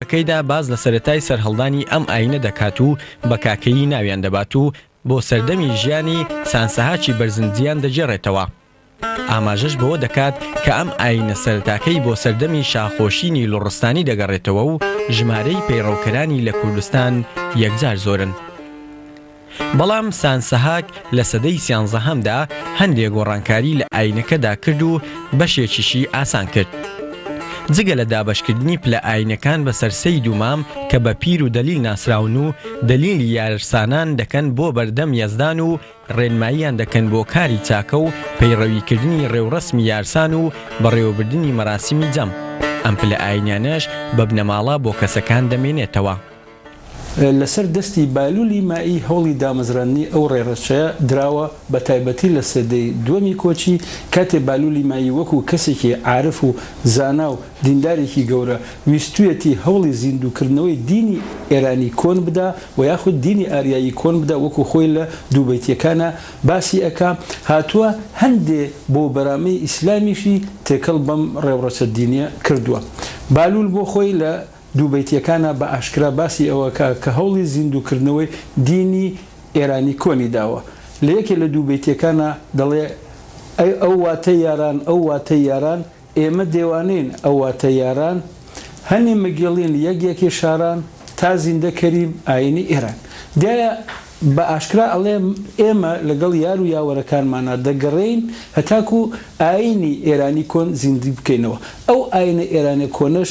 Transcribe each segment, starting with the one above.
کەیدا باس لە سەرەتای سەرهەڵدانی ئەم ئایینە دەکات و بە کاکەیی ناویان دەبات و بۆ سەردەمی ژیانی سان سەهاچی بەرزنجیان دەگێڕێتەوە. ئاماژەش بەوە دەکات کە ئەم ئایینە سەرەتاکەی بۆ سەردەمی شاخۆشینی لوڕستانی دەگەڕێتەوە و ژمارەی پەیڕەوکەرانی لە کوردستان یەکجار زۆرن. بەڵام سانسهاک لە سەدەی سیانزەهەمدا هەندێ گۆڕانکاری لە ئایینەکەدا کرد و بەشێکیشی ئاسان کرد. جگە لە دابەشکردنی پلە ئایینەکان بەسەر سەید و مام کە بە پیر و دەلیل ناسراون و دەلیلی یارسانان دەکەن بۆ بەردەم یەزدان و ڕێنماییان دەکەن بۆ کاری چاکە و پەیڕەویکردنی ڕێوڕەسمی یارسان و بەڕێوەبردنی مەراسیمی جەم، ئەم پلە ئایینیانەش بە بنەماڵە بۆ کەسەکان دەمێنێتەوە. لەسەر دەستی بالولی مائی هەوڵی دامەزراندنی ئەو ڕێڕەچەیە دراوە، بەتایبەتی لە سەدەی دووەمی کۆچی، کاتێ بالولی مائی وەکو کەسێکی عارف و زانا و دیندارێکی گەورە، ویستویەتی هەوڵی زیندووکردنەوەی دینی ئێرانی کۆن بدا و یاخود دینی ئاریایی کۆن بدا وەکو خۆی لە دوو بەیتیەکانا باسی ئەکا، هاتووە هەندێ بۆ بەرامەی ئیسلامیشی تێکەڵ بەم ڕێوڕەچە دینیە کردووە. بالول بۆ خۆی لە دوو بەیتییەکانا بە ئاشکرا باسی ئەوەکا کە هەوڵی زیندووکردنەوەی دینی ئێرانی کۆنی داوە. لە یەکێ لە دوو بەیتییەکانا دەڵێ، ئەی ئەو واتەی یاران، ئەو واتەی یاران، ئێمە دێوانەین ئەو واتەی یاران، هەنی مگێڵین یەک یەکی شاران، تا زیندە کەریم ئایینی ئێران. دیارە بە ئاشکرا ئەڵێ ئێمە لەگەڵ یار و یاوەرەکانمانا دەگەڕێین هەتاکوو ئایینی ئێرانی کۆن زیندووی بکەینەوە. ئەو ئایینە ئێرانییە کۆنەش،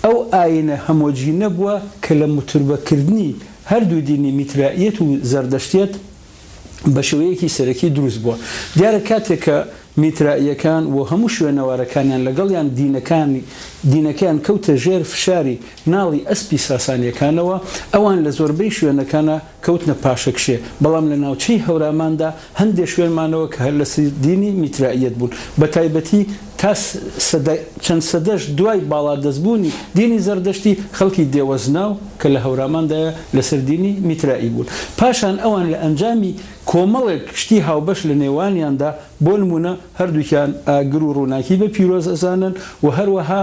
ئەو ئاینە هەمۆجینە بووە کە لە متوربەکردنی هەردوو دینی میترائیەت و زەردەشتیەت بە شێوەیەکی سەرەکی دروست بووە. دیارە کاتێک کە میترائیەکان و هەموو شوێنەوارەکانیان لەگەڵیان دینەکانی دینەکەیان کەوتە ژێر فشاری ناڵی ئەسپی ساسانیەکانەوە ئەوان لە زۆربەی شوێنەکانە کەوتنە پاشەکشێ، بەڵام لە ناوچەی هەوراماندا هەندێ شوێن مانەوە کە هەر لە سردینی میترائیەت بوون، بە تایبەتی تا سەدە چەند سەدەش دوای باڵادەستبوونی دینی زەردەشتی، خەڵکی دێوەزناو کە لە هەوراماندایە لە سەر دینی میترائی بوون. پاشان ئەوان لە ئەنجامی کۆمەڵێک شتی هاوبەش لە نێوانیاندا، بۆ نموونە هەردووکیان ئاگر و ڕووناکی بە پیرۆز ئەزانن و هەروەها،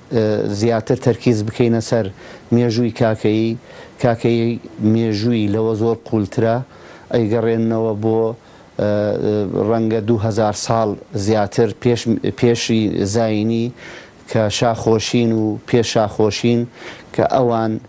زیاتر تەرکیز بکەینە سەر مێژووی کاکەیی، کاکەیی مێژووی لەوە زۆر قوولترە، ئەیگەڕێننەوە بۆ ڕەنگە دوو هەزار ساڵ زیاتر پێش پێشی زایینی کە شاخۆشین و پێش شاخۆشین کە ئەوان،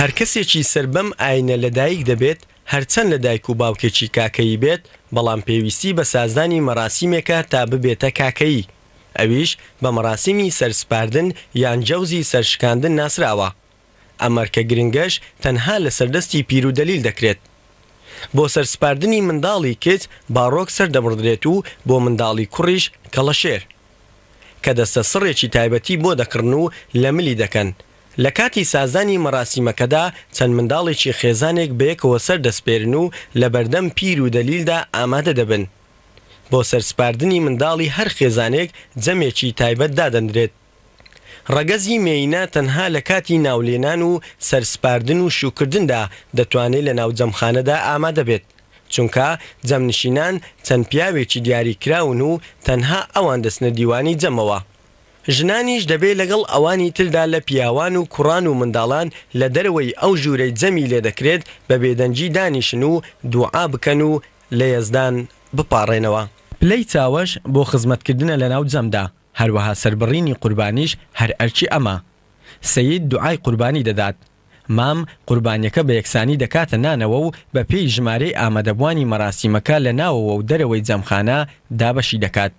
هەر کەسێکی سەر بەم ئاینە لە دایک دەبێت، هەرچەند لە دایک و باوکێکی کاکەیی بێت، بەڵام پێویستی بە سازدانی مەراسیمێکە تا ببێتە کاکەیی. ئەویش بە مەراسیمی سەر سپاردن یان جەوزی سەر شکاندن ناسراوە، ئەم ئەرکە گرنگەش تەنها لەسەر دەستی پیر و دەلیل دەکرێت. بۆ سەر سپاردنی منداڵی کچ باڕۆک سەر دەبڕدرێت و بۆ منداڵی کوڕیش کەڵەشێر. کە دەستە سڕێکی تایبەتی بۆ دەکڕن و لە ملی دەکەن. لە کاتی سازانی مەراسیمەکەدا چەند منداڵێکی خێزانێک بەیەکەوە سەر دەسپێرن و لە بەردەم پیر و دەلیلدا ئامادە دەبن. بۆ سەرسپاردنی منداڵی هەر خێزانێک جەمێکی تایبەت دادەندرێت. ڕەگەزی مێینە تەنها لە کاتی ناولێنان و سەرسپاردن و شووکردندا دەتوانێت لە ناو جەمخانەدا ئامادە بێت، چونکە جەمنشینان چەند پیاوێکی دیاریکراون و تەنها ئەوان دەچنە دیوانی جەمەوە. ژنانیش دەبێت لەگەڵ ئەوانی تردا لە پیاوان و کوڕان و منداڵان لە دەرەوەی ئەو ژوورەی جەمی لێدەکرێت بە بێدەنگی دانیشن و دوعا بکەن و لە یەزدان بپاڕێنەوە. پلەی چاوەش بۆ خزمەتکردنە لەناو جەمدا، هەروەها سەربڕینی قوربانیش هەر ئەرکی ئەمە. سەید دوعای قوربانی دەدات. مام قوربانیەکە بە یەکسانی دەکاتە نانەوە و بە پێی ژمارەی ئامادەبوانی مەراسیمەکە لە ناوەوە و دەرەوەی جەمخانە دابەشی دەکات.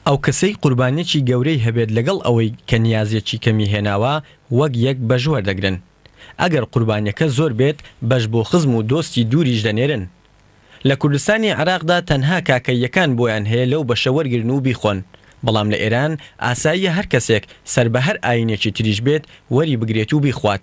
ئەو کەسەی قوربانیەکی گەورەی هەبێت لەگەڵ ئەوەی کە نیازێکی کەمی هێناوە وەک یەک بەش وەردەگرن ئەگەر قوربانیەکە زۆر بێت بەش بۆ خزم و دۆستی دووریش دەنێرن لە کوردستانی عێراقدا تەنها کاکەییەکان بۆیان هەیە لەو بەشە وەرگرن و بیخۆن بەڵام لە ئێران ئاساییە هەر کەسێک سەر بە هەر ئاینێکی تریش بێت وەری بگرێت و بیخوات.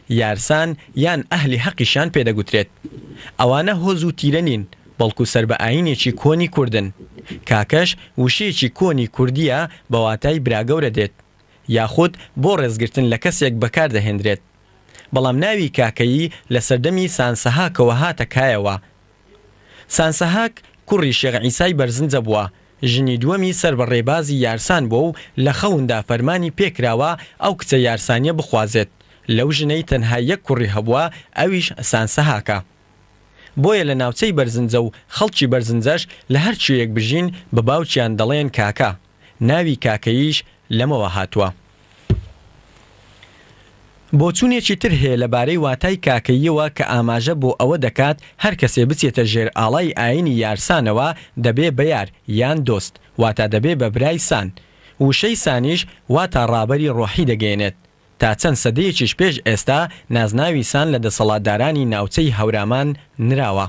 یارسان یان ئەهلی هەقیشیان پێ دەگوترێت. ئەوانە هۆز و تیرە نین، بەڵکو سەر بە ئایینێکی کۆنی کوردن. کاکەش وشەیەکی کۆنی کوردییە بە واتای براگەورە دێت، یاخود بۆ ڕێزگرتن لە کەسێک بەکاردەهێندرێت. بەڵام ناوی کاکەیی لە سەردەمی سانسەهاکەوە هاتە کایەوە، سانسەهاک کوڕی شێخ عیسای بەرزنجە بووە، ژنی دووەمی سەر بە ڕێبازی یارسان بووە و لە خەوندا فەرمانی پێ کراوە ئەو کچە یارسانیە بخوازێت، لەو ژنەی تەنها یەک کوڕی هەبووە ئەویش سانسەهاکە. بۆیە لە ناوچەی بەرزنجە و خەڵکی بەرزنجەش لە هەر کوێیەک بژین بە باوکیان دەڵێن کاکە. ناوی کاکەییش لەمەوە هاتووە. بۆچوونێکی تر هەیە لە بارەی واتای کاکەییەوە کە ئاماژە بۆ ئەوە دەکات هەر کەسێ بچێتە ژێر ئاڵای ئایینی یارسانەوە دەبێ بە یار یان دۆست واتا دەبێ بە برای سان. وشەی سانیش واتا ڕابەری ڕۆحی دەگەیەنێت. تا چەند سەدەیەکیش پێش ئێستا نازناوی سان لە دەسەڵاتدارانی ناوچەی هەورامان نراوە.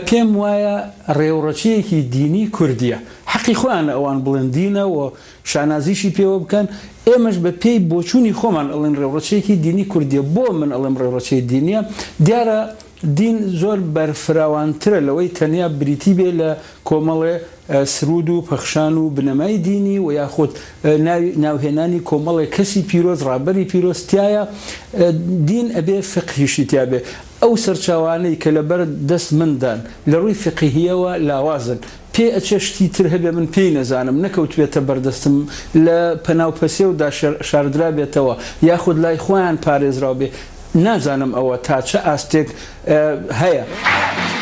پێم وایە ڕێوڕەچیەکی دینی کوردیە حەقی خۆیانە ئەوان بڵێن دینە و شانازیشی پێوە بکەن ئێمەش بە پێی بۆچونی خۆمان ئەڵێن ڕێوڕەچیەکی دینی کوردیە بۆ من ئەڵێم ڕێوڕەچیە دینیە دیارە دین زۆر بەرفراوانترە لەوەی تەنیا بریتی بێ لە کۆمەڵێ سرود و پەخشان و بنەمای دینی و یاخود ناوهێنانی کۆمەڵێ کەسی پیرۆز ڕابەری پیرۆز تیایە دین ئەبێ فقهیشی تیابێ ئەو سەرچاوانەی کە لە بەر دەست من دان لە ڕووی فیقهییەوە لاوازن، پێ ئەچێ شتی تر هەبێ من پێی نەزانم، نەکەوتبێتە بەر دەستم، لە پەناو پەسێو دا شاردرابێتەوە، یاخود لای خۆیان پارێزراو بێ، نازانم ئەوە تا چە ئاستێک هەیە.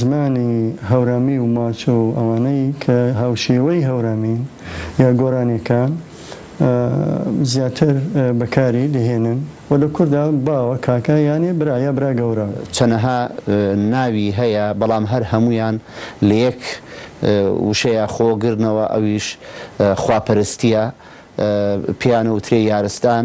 زمانی هەورامی و ماچۆ و ئەوانەی کە هاوشێوەی هەورامین یا گۆرانیەکان زیاتر بەکاری دەهێنن و لە کوردا باوە، کاکە یانێ برا یا برا گەورە. چەنەها ناوی هەیە بەڵام هەر هەموویان لە یەک وشەیە خۆ گرنەوە ئەویش خواپەرستیە پێیانە وترێ یارستان.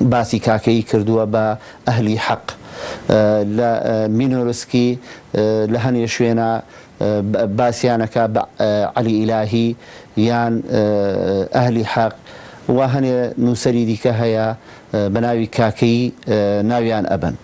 باسی کاکەیی کردووە بە ئەهلی حەق لە مینۆرسکی لە هەنێ شوێنا باسیان ئەکا بە عەلی ئیلاهی یان ئەهلی حەق و هەنێ نووسەری دیکە هەیە بە ناوی کاکەیی ناویان ئەبەن.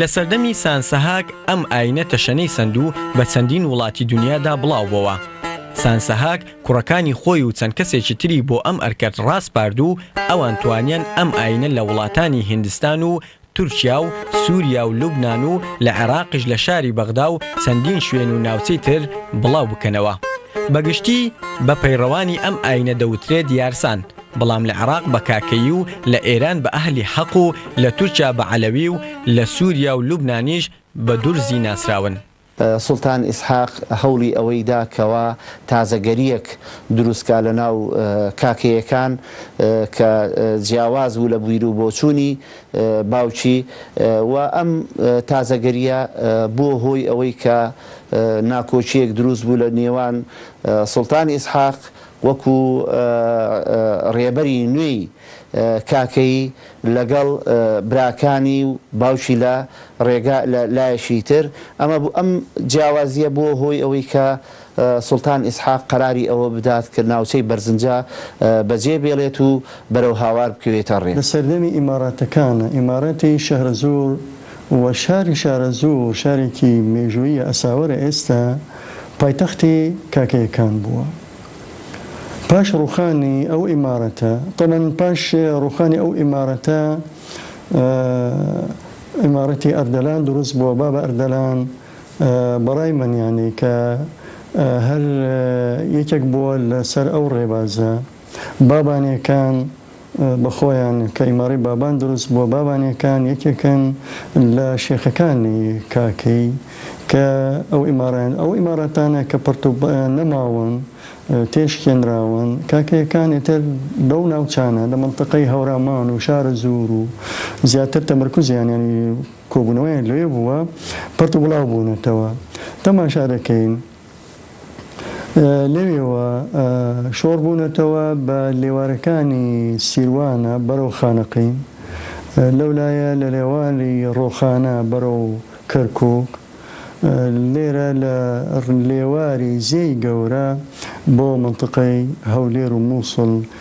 لە سەردەمی سان سەهاک ئەم ئاینە تەشەنەی سەند و بە چەندین وڵاتی دونیادا بڵاو بۆوە. سان سەهاک کوڕەکانی خۆی و چەند کەسێکی تری بۆ ئەم ئەرکەت ڕاسپارد و ئەوان توانیان ئەم ئاینە لە وڵاتانی هیندستان و تورکیا و سوریا و لوبنان و لە عێراقیش لە شاری بەغدا و چەندین شوێن و ناوچەی تر بڵاو بکەنەوە. بە گشتی بە پەیڕەوانی ئەم ئاینە دەوترێت یارسان، بەڵام لە عێراق بە کاکەیی و لە ئێران بە ئەهلی حەق و لە تورکیا بە عەلەوی و لە سوریا و لوبنانیش بە دورزی ناسراون. سوڵتان ئیسحاق هەوڵی ئەوەی دا کەوا تازەگەرییەک دروست کا لە ناو کاکەیەکان کە جیاواز بوو لە بیرو بۆچوونی باوکی و ئەم تازەگەرییە بووە هۆی ئەوەی کە ناکۆکییەک دروست بوو لە نێوان سوڵتان ئیسحاق وەکوو رێبەری نوێی کاکەیی لەگەڵ براکانی و باوکی لە ڕێگا لە لایەکی تر ئەمە بوو ئەم جیاوازییە بووە هۆی ئەوەی کە سوڵتان ئیسحاق قەراری ئەوە بدات کە ناوچەی بەرزنجە بەجێ بێڵێت و بەرەو هاوار بکەوێتە ڕێ. لە سەردەمی ئیماڕاتەکانە، ئیمارەتی شەهرەزوور و شاری شارەزوور شارێکی مێژووییە ئەساوەرە ئێستا پایتەختی کاکەیەکان بووە. پاش ڕوخانی ئەو ئیمارەتە تەبەن پاش ڕوخانی ئەو ئیمارەتە ئیمارەتی ئەردەلان دروست بووە با بە ئەردەلان بەڕای منیانی کە هەر یەکێک بووە لەسەر ئەو ڕێبازە بابانەکان بە خۆیان کە ئیماڕەی بابان دروست بووە بابانێکان یەکێکن لە شێخەکانی کاکەی کە ئەو ئیماڕەیان ئەو ئیماڕەتانە کە پڕت و نەماون تێشکێنراون کاکەیەکان ئێتر بەو ناوچانە لە منتەقەی هەورامان و شارە زور و زیاتر تەمرکوزیان یانی کۆبوونەوەیان لەوێ بووە پڕت و بڵاو بوونەتەوە تەماشا دەکەین لەوێوە شۆڕ بوونەتەوە بە لێوارەکانی سیروانە بەرەو خانەقین، لەولایە لە لێواری ڕۆخانە بەرەو کەرکووک، لێرە لە لێواری زێی گەورە بۆ مەنتقەی هەولێر و مووسڵ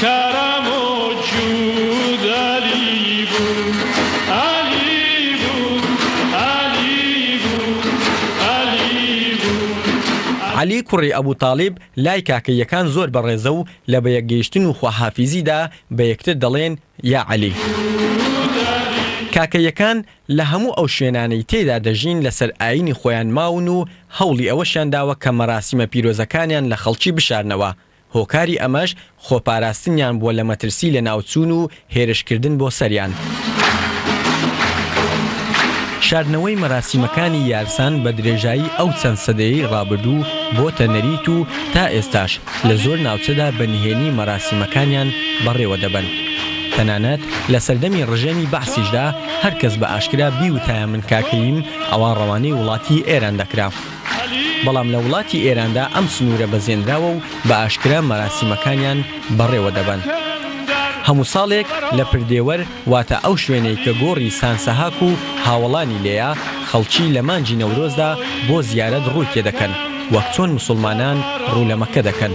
کارامۆچ و دالی بوون ئالی بوون ئالی بوون ئالی بوون. عەلی کوڕی ئەبو تاڵیب لای کاکەییەکان زۆر بەڕێزە و لە بەیەکگەیشتن و خواحافیزیدا بە یەکتر دەڵێن، یا عەلی. کاکەییەکان لە هەموو ئەو شوێنانەی تێیدا دەژین لەسەر ئایینی خۆیان ماون و هەوڵی ئەوەشیان داوە کە مەراسیمە پیرۆزەکانیان لە خەڵکی بشارنەوە، هۆکاری ئەمەش خۆپاراستنیان بووە لە مەترسی لەناوچوون و هێرشکردن بۆ سەریان. شاردنەوەی مەراسیمەکانی یارسان بە درێژایی ئەو چەند سەدەیەی ڕابردوو بۆتە نەریت و تا ئێستاش لە زۆر ناوچەدا بە نهێنی مەراسیمەکانیان بەڕێوە دەبەن. تەنانەت لە سەردەمی ڕژێمی بەعسیشدا هەر کەس بە ئاشکرا بیوتایە من کاکەییم ئەوا ڕەوانەی وڵاتی ئێران دەکرا. بەڵام لە وڵاتی ئێراندا ئەم سنوورە بەزێنراوە و بە ئاشکرا مەراسیمەکانیان بەڕێوە دەبەن. هەموو ساڵێک لە پردێوەر واتە ئەو شوێنەی کە گۆڕی سانسەهاک و هاوەڵانی لێیە، خەڵکی لە مانگی نەورۆزدا بۆ زیارەت ڕووی تێ دەکەن، وەک چۆن موسڵمانان ڕوو لە مەککە دەکەن.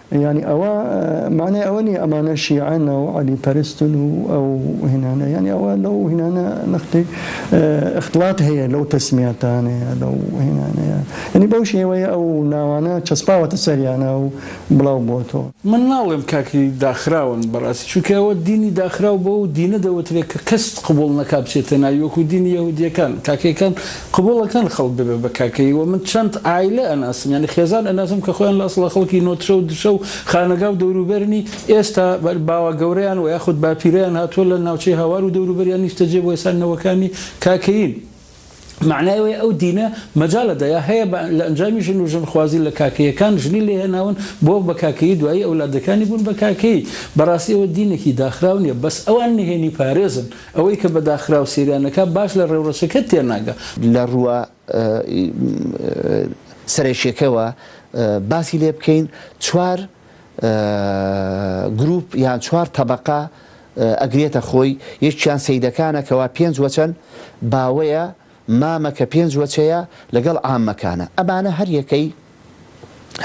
یانی ئەوە مانای ئەوە نیە ئەمانە شیعەن و عەلی پەرستن و ئەو هێنانە یانی ئەوە لەو هینانە نەختی اختلاات هەیە لەو تەسمیاتانەیە لەو هێنانەیە ینی بەو شێوەیە ئەو ناوانە چەسپاوەتە سەریانە و بڵاو بۆ تۆ. من ناڵێم کاکی داخراون بەڕاستی چونکە ئەوە دینی داخراو بەو دینە دەوترێت کە کەست قبوڵ نەکا بچێتە ناوی وەکو دینی یەهودیەکان کاکەیەکان قبوڵەکەن خەڵک دەبێت بە کاکەیی وە من چەند عایلە ئەناسم یانی خێزان ئەناسم کە خۆیان لە ئەسڵا خەڵکی نۆدشە و دشە و خانەگا و دەوروبەرنی ئێستا باوە گەورەیان وە یاخود باپیرەیان هاتووە لە ناوچەی هاوار و دەوروبەریان نیشتەجێ بووە ئێستا نەوەکانی کاکەیین مەعنای ئەوەیە ئەو دینە مەجال ئەدا یا هەیە بە لە ئەنجامی ژن و ژن خوازی لە کاکەیەکان ژنی لێ هێناون بۆ بە کاکەیی دوایی ئەولادەکانی بوون بە کاکەیی بەڕاستی ئەوە دینێکی داخراو نیە بەس ئەوان نهێنی پارێزن ئەوەی کە بە داخراو سەیریان ئەکا باش لە ڕێوڕەسەکە تێناگا. لە ڕووە سەرەکیەکەوە باسی لێ بکەین چوار گروپ یان چوار تەبەقە ئەگرێتە خۆی یەکیان سەیدەکانە کەوا پێنج وەچەن باوەیە مامە کە پێنج وەچەیە لەگەڵ عامەکانە ئەمانە هەر یەکەی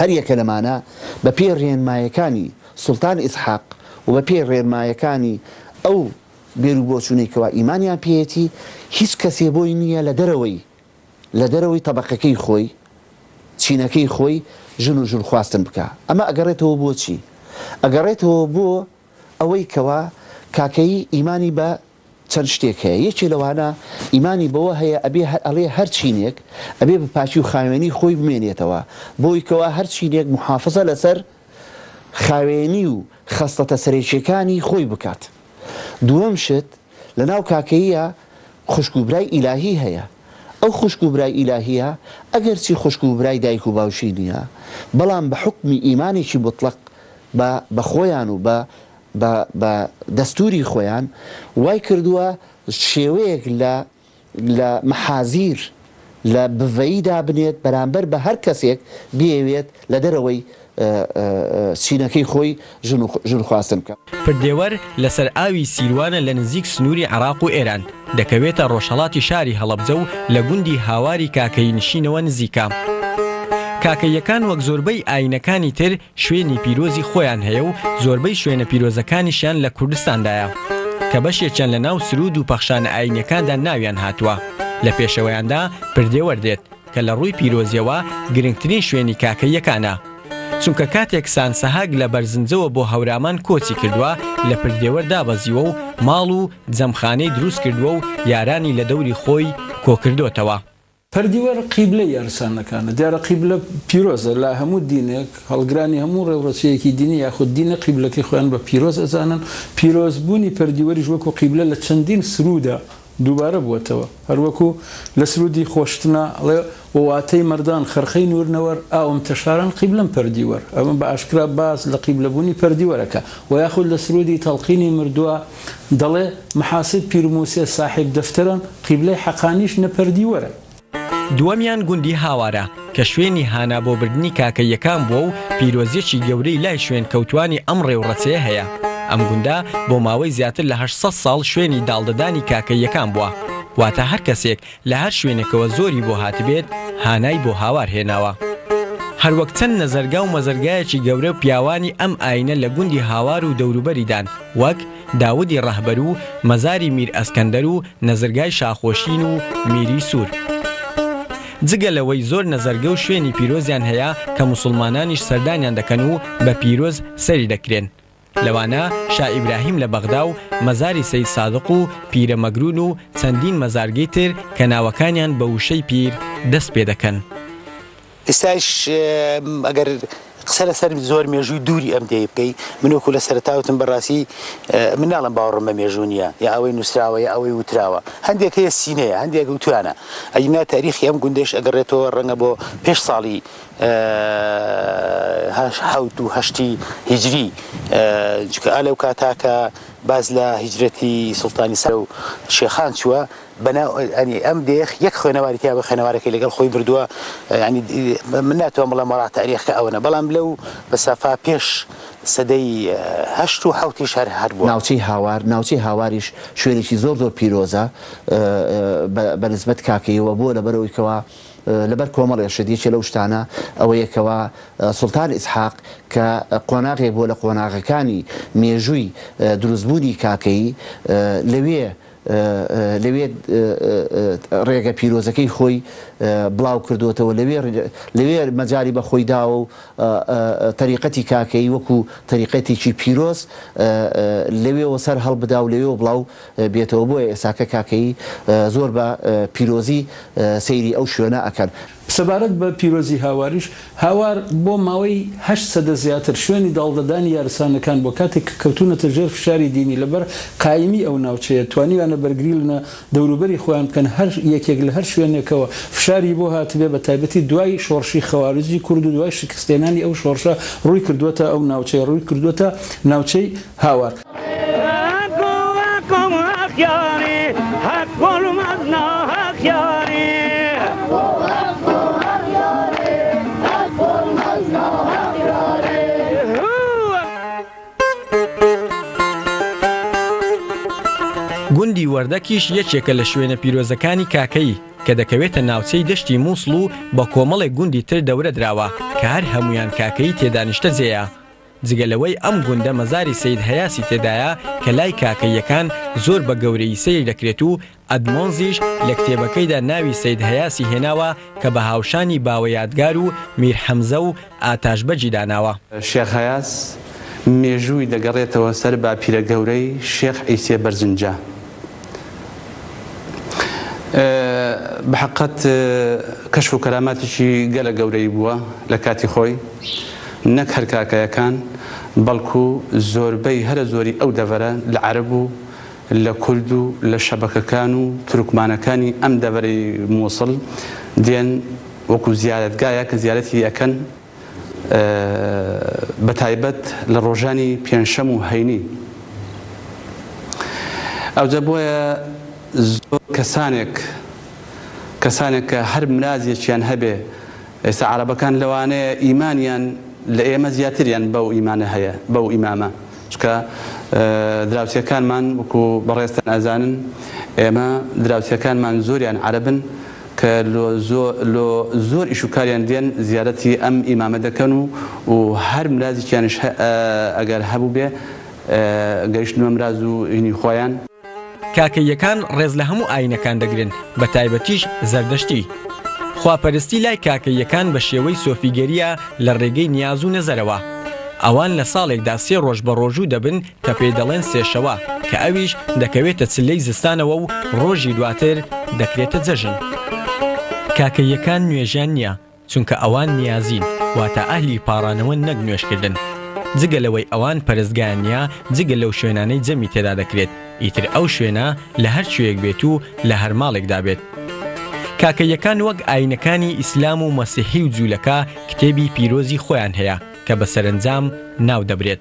هەر یەکە لەمانە بە پێی ڕێنمایەکانی سوڵتان ئیسحاق و بە پێی ڕێنمایەکانی ئەو بیرو بۆچونەی کەوا ئیمانیان پێیەتی هیچ کەسێ بۆی نیە لە دەرەوەی لە دەرەوەی تەبەقەکەی خۆی چینەکەی خۆی ژن و ژن خواستن بکا ئەمە ئەگەڕێتەوە بۆ چی ئەگەڕێتەوە بۆ ئەوەی کەوا کاکەیی ئیمانی بە چەند شتێک هەیە یەکێ لەوانە ئیمانی بەوە هەیە ئەبێ هەر ئەڵێ هەر چینێک ئەبێ بە پاکی و خاوێنی خۆی بمێنێتەوە بۆی کەوا هەر چینێک محافزە لەسەر خاوێنی و خەسڵەتە سەرەکیەکانی خۆی بکات دووەم شت لەناو کاکەییە خوشک و برای ئیلاهی هەیە ئەو خوشک و برای ئیلاهیە ئەگەر چی خوشک و برای دایک و باوکی نیە بەڵام بە حوکمی ئیمانێکی موتڵەق بە بە خۆیان و بە بە بە دەستوری خۆیان وای کردووە شێوەیەک لە لە مەحازیر لە بڤەیی دابنێت بەرامبەر بە هەر کەسێک بیەوێت لە دەرەوەی چینەکەی خۆی ژن خواستن بکات. پردێوەر لەسەر ئاوی سیروانە لە نزیک سنووری عێراق و ئێران، دەکەوێتە ڕۆژهەڵاتی شاری هەڵەبجە و لە گوندی هاواری کاکەیی نشینەوە نزیکە. کاکەییەکان وەک زۆربەی ئایینەکانی تر، شوێنی پیرۆزی خۆیان هەیە و زۆربەی شوێنە پیرۆزەکانیشیان لە کوردستاندایە کە بەشێکیان لە ناو سروود و پەخشانە ئایینیەکاندا ناویان هاتووە، لە پێشەوەیاندا پردێوەر دێت کە لە ڕووی پیرۆزیەوە گرنگترین شوێنی کاکەییەکانە، چونکە کاتێک سانسەهاک لە بەرزنجەوە بۆ هەورامان کۆچی کردووە لە پردێوەر دابەزیوە و ماڵ و جەمخانەی درووست کردووە و یارانی لە دەوری خۆی کۆکردۆتەوە. پەردیوار قیبلە یارسانەکانە، دیارە قیبلە پیرۆزە لە هەموو دینێک، هەڵگرانی هەموو ڕێوڕەسیەکی دینی یاخود دینە قیبلەکەی خۆیان بە پیرۆز ئەزانن، پیرۆز بوونی پەردیوەریش وەکو قیبلە لە چەندین سروودا دووبارە بووەتەوە، هەروەکو لە سروودی خۆشتنا ئەڵێ، وواتەی مەردان خەرقەی نوورنەوەر، ئاوم تەشاران قیبلەم پەردیوەر، ئەمە بە ئاشکرا باس لە قیبلەبوونی پەردیوەرەکە، وە یاخود لە سروودی تەڵقینی مردووە، دەڵێ، محاسب پیر موسێ ساحێب دەفتەرە، قیبلەی حەقانیش نەپەردیوەرە. دووەمیان گوندی هاوارە، کە شوێنی هانا بۆ بردنی کاکە یەکان بووە و پیرۆزییەکی گەورەی لای شوێنکەوتووانی ئەم ڕێوڕەسێ هەیە. ئەم گوندە بۆ ماوەی زیاتر لە هەشت سەد ساڵ شوێنی داڵدەدانی کاکە یەکان بووە. واتە هەر کەسێک لە هەر شوێنێکەوە زۆری بۆ هاتبێت هانای بۆ هاوار هێناوە. هەروەک چەند نەزەرگا و مەزەرگایەکی گەورە پیاوانی ئەم ئاینە لە گوندی هاوار و دەوروبەریدان وەک، داودی ڕەهبەر و مەزاری میر ئەسکەندەر و نەزرگای شاخۆشین و میری سوور. جگە لەوەی زۆر نەزەرگە و شوێنی پیرۆزیان هەیە کە موسوڵمانانیش سەردانیان دەکەن و بە پیرۆز سەری دەکرێن. لەوانە شا ئیبراهیم لە بەغدا و مەزاری سەید سادق و پیرە مەگروون و چەندین مەزارگەی تر کە ناوەکانیان بە وشەی پیر دەست پێ دەکەن. ئێستایش ئەگەر قسە لەسەر زۆر مێژووی دووری ئەم دێیە بکەی، من وەکوو لە سەرەتا وتم بە ڕاستی من ناڵێم باوەڕم بە مێژوو نییە یا ئەوەی نووسراوە یا ئەوەی وتراوە، هەندێک هەیە سینەیە هەندێک وتوویانە، ئەگینا تاریخی ئەم گوندەیش ئەگەڕێتەوە ڕەنگە بۆ پێش ساڵی، حەوت و هەشتی هیجری چکە ئالە و کاتا کە باز لە هیجرەتی سلتانی سەر و شێخان چووە بەناوئەنی ئەم دێخ یەک خوێنەواری تیا بە خوێنەوارەکەی لەگەڵ خۆی بردووە ینی من ناتوان بڵێ مەڵا تاریخکە ئەوەنە بەڵام لەو بەسافا پێش سەدەی هەشت و حوتی شار هەر بوو ناوچەی هاوار ناوچەی هاواریش شوێنێکی زۆر زۆر پیرۆزە بە نسبەت کاکەیەوە بۆ لەبەرەوەی کەوا لەبەر کۆمەڵێ شت، یەکێ لەو شتانە ئەوەیە کەوا سوڵتان ئیسحاق کە قۆناغێک بووە لە قۆناغەکانی مێژووی دروستبوونی کاکەیی، لەوێ لەوێ ڕێگە پیرۆزەکەی خۆی بڵاو کردۆتەوە، لەوێ لەوێ مەجالی بە خۆی داوە و تەریقەتی کاکەیی وەکوو تەریقەتێکی پیرۆز لەوێوە سەر هەڵبدا و لەوێوە بڵاو بێتەوە بۆیە ئێساکە کاکەیی زۆر بە پیرۆزی سەیری ئەو شوێنە ئەکەن. سەبارەت بە پیرۆزی هاواریش، هاوار بۆ ماوەی هەشت سەدە زیاتر شوێنی داڵدەدانی یارسانەکان بووە، کاتێک کە کەوتوونەتە ژێر فشاری دینی لەبەر قایمی ئەو ناوچەیە توانیویانە بەرگری لنە دەوروبەری خۆیان بکەن هەر یەکێک لە هەر شوێنێکەوە فشاری بۆ هاتبێ بەتایبەتی دوای شۆڕشی خەوارجی کورد و دوای شکستهێنانی ئەو شۆڕشە ڕووی کردووەتە ئەو ناوچەیە ڕووی کردووەتە ناوچەی هاوار. گوندی وەردەکیش یەکێکە لە شوێنە پیرۆزەکانی کاکەیی کە دەکەوێتە ناوچەی دەشتی مووسڵ و بە کۆمەڵێک گوندی تر دەورە دراوە کە هەر هەمویان کاکەیی تێدانیشتە جێە. جگە لەوەی ئەم گوندە مەزاری سەید هەیاسی تێدایە کە لای کاکەییەکان زۆر بە گەورەیی سەیر دەکرێت و ئەدمۆنزیش لە کتێبەکەیدا ناوی سەید هەیاسی هێناوە کە بە هاوشانی باوە یادگار و میر حەمزە و ئاتاش بەگی داناوە. شێخ هەیاس مێژووی دەگەڕێتەوە سەر باپیرە گەورەی شێخ عیسێ بەرزنجە بەحەقەت کەشف و کەراماتیکی گەلە گەورەی بووە لە کاتی خۆی نەک هەر کاکەیەکان بەڵکو زۆربەی هەرە زۆری ئەو دەڤەرە لە عەرەب و لە کورد و لە شەبەکەکان و تورکمانەکانی ئەم دەڤەرەی موسڵ دێن وەکو زیارەتگایەک زیارەتی ئەکەن بەتایبەت لە ڕۆژانی پێنجشەم و هەینی ئەوجە بۆیە زۆر کەسانێک کەسانێک کە هەر مرازێکیان هەبێ ئێستا عەرەبەکان لەوانەیە ئیمانیان لە ئێمە زیاتریان بەو ئیمانە هەیە بەو ئیمامە. چونکە دراوسێکانمان وەکو بەڕێزتان ئەزانن ئێمە دراوسێکانمان زۆریان عەرەبن کە لۆ لۆ زۆر ئیش و کاریان دێن زیارەتی ئەم ئیمامە دەکەن و و هەر مرازیکیانش ئەگەر هەبووبێ گەیشتنە مراز و هینی خۆیان. کاکەییەکان ڕێز لە هەموو ئایینەکان دەگرن، بە تایبەتیش زەردەشتی. خواپەرستی لای کاکەییەکان بە شێوەی سۆفیگەرییە لە ڕێگەی نیاز و نەزەرەوە. ئەوان لە ساڵێکدا سێ ڕۆژ بەڕۆژوو دەبن کە پێی دەڵێن سێشەوە، کە ئەویش دەکەوێتە چلەی زستانەوە و ڕۆژی دواتر دەکرێتە جەژن. کاکەییەکان نوێژیان نییە. چونکە ئەوان نیازین واتە ئەهلی پاڕانەوەن نەک نوێژکردن جگە لەوەی ئەوان پەرستگایان نیە جگە لەو شوێنانەی جەمی تێدا دەکرێت ئیتر ئەو شوێنە لە هەر کوێیەک بێت و لە هەر ماڵێکدا بێت کاکەییەکان وەک ئاینەکانی ئیسلام و مەسیحی و جولەکە کتێبی پیرۆزی خۆیان هەیە کە بە سەرەنجام ناو دەبرێت.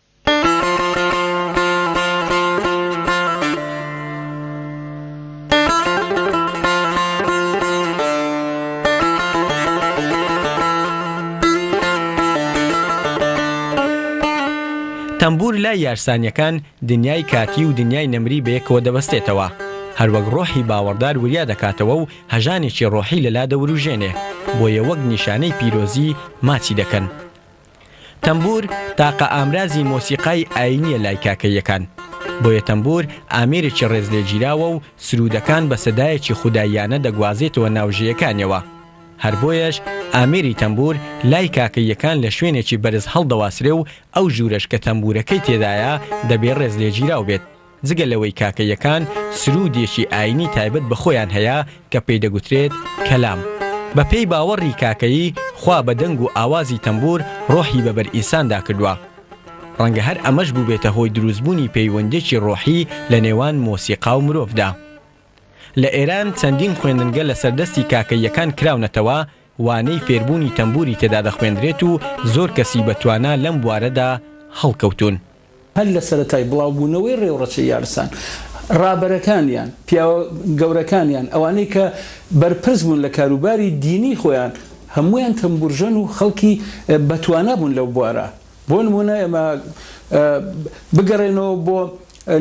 تەمبوور لای یارسانییەکان دنیای کاتی و دنیای نەمری بەیەکەوە دەبەستێتەوە، هەروەک ڕۆحی باوەڕدار وریا دەکاتەوە و هەژانێکی ڕۆحی لەلا دەوروژێنێ، بۆیە وەک نیشانەی پیرۆزی ماچی دەکەن. تەمبوور تاقە ئامرازی مۆسیقای ئایینییە لای کاکەییەکان، بۆیە تەمبوور ئامێرێکی ڕێزلێگیراوە و سروودەکان بە سەدایەکی خوداییانە دەگوازێتەوە ناو ژێیەکانیەوە. هەر بۆیەش ئامێری تەمبوور لای کاکەییەکان لە شوێنێکی بەرز هەڵدەواسرێ و ئەو ژوورەش کە تەمبوورەکەی تێدایە دەبێ ڕێزلێگیراو بێت. جگە لەوەی کاکەییەکان سروودێکی ئایینی تایبەت بە خۆیان هەیە کە پێی دەگوترێت کەلام. بە پێی باوەڕی کاکەیی، خوا بە دەنگ و ئاوازی تەمبوور ڕۆحی بە بەر ئینساندا کردووە. ڕەنگە هەر ئەمەش بووبێتە هۆی دروستبوونی پەیوەندییەکی ڕۆحی لە نێوان مۆسیقا و مرۆڤدا. لە ئێران چەندین خوێندنگە لەسەر دەستی کاکەییەکان کراونەتەوە، وانەی فێربوونی تەمبووری تێدا دەخوێندرێت و زۆر کەسی بە توانا لەم بوارەدا هەڵکەوتوون. هەر لە سەرەتای بڵاوبوونەوەی ڕێوڕەچەی یارسان، ڕابەرەکانیان، پیاوە گەورەکانیان، ئەوانەی کە بەرپرس بوون لە کاروباری دینیی خۆیان، هەموویان تەمبوورژەن و خەڵکی بەتوانا بوون لەو بوارە. بۆ نموونە ئێمە بگەڕێنەوە بۆ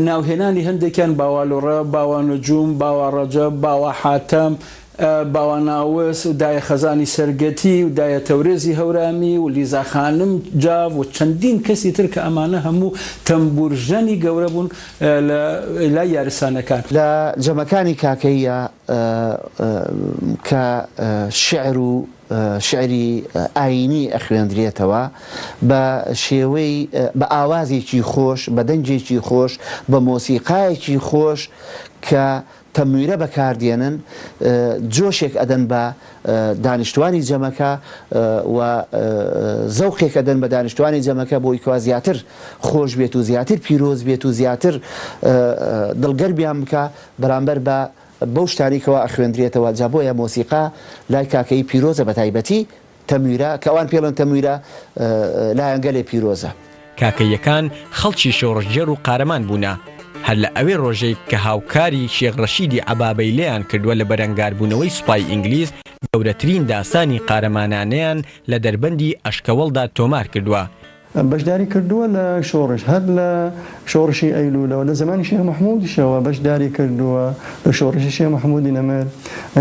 ناوهێنانی هەندێکیان، باوالۆڕە، باوانەجووم، باواڕەجەب، باواحاتەم، باواناوس، دایە خەزانی سەرگەتی و دایە تەورێزی هەورامی و لیزا خانم جاف و چەندین کەسی تر کە ئەمانە هەموو تەمبوورژەنی گەورە بوون لە لای یارسانەکان. لە جەمەکانی کاکەییە کە شیعر و شیعری ئایینی ئەخوێندرێتەوە بە شێوەی بە ئاوازێکی خۆش، بە دەنگێکی خۆش، بە مۆسیقایەکی خۆش کە تەنویرە بەکاردێنن جۆشێک ئەدەن بە دانیشتوانی جەمەکە و زەوقێک ئەدەن بە دانیشتوانی جەمەکە بۆی کەوا زیاتر خۆش بێت و زیاتر پیرۆز بێت و زیاتر دڵگەرمیان بکا بەرامبەر بە بەو شتانەی کەوا ئەخوێندرێتەوە جا بۆیە مۆسیقا لای کاکەیی پیرۆزە بەتایبەتی تەمویرا، کە ئەوان پێڵێن تەمویرا، لایەنگەلێ پیرۆزە. کاکەییەکان خەڵکی شۆڕشگێڕ و قارەمان بوونە، هەر لە ئەوێ ڕۆژەی کە هاوکاری شێخ ڕەشیدی عەبابەی لێیان کردووە لە بەرەنگاربوونەوەی سوپای ئینگلیز، گەورەترین داستانی قارەمانانەیان لە دەربەندی ئەشکەوەڵدا تۆمار کردووە، بەشداری کردووە لە شۆڕش، هەر لە شۆڕشی ئەیلوولەوە، لە زەمانی شێخ مەحموودیشەوە بەشداری کردووە لە شۆڕشی شێخ مەحموودی نەمر،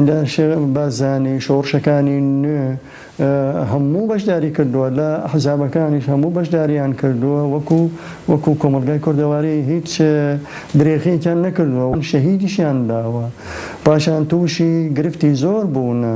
لە شێخ بارزانی، شۆڕشەکانی نوێ هەموو بەشداری کردووە، لە ئەحزابەکانیش هەموو بەشدارییان کردووە، وەکوو وەکوو کۆمەڵگای کوردەواری هیچ درێغییەکیان نەکردووە، شەهیدیشیان داوە، پاشان تووشی گرفتی زۆر بوونە.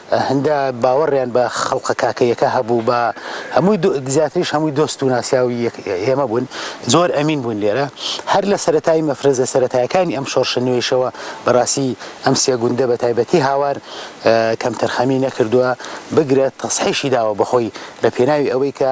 هەندە باوەڕیان بە خەڵقە کاکەییەکە هەبوو بە هەمووی زیاتریش هەمووی دۆست و ناسیاوی ئێمە بوون زۆر ئەمین بوون لێرە هەر لە سەرەتای مەفرەزە سەرەتایەکانی ئەم شۆڕشە نوێیشەوە بەڕاستی ئەم سێ گوندە بە تایبەتی هاوار کەمتەرخەمی نەکردووە بگرە تەسحیشی داوە بەخۆی لە پێناوی ئەوەی کە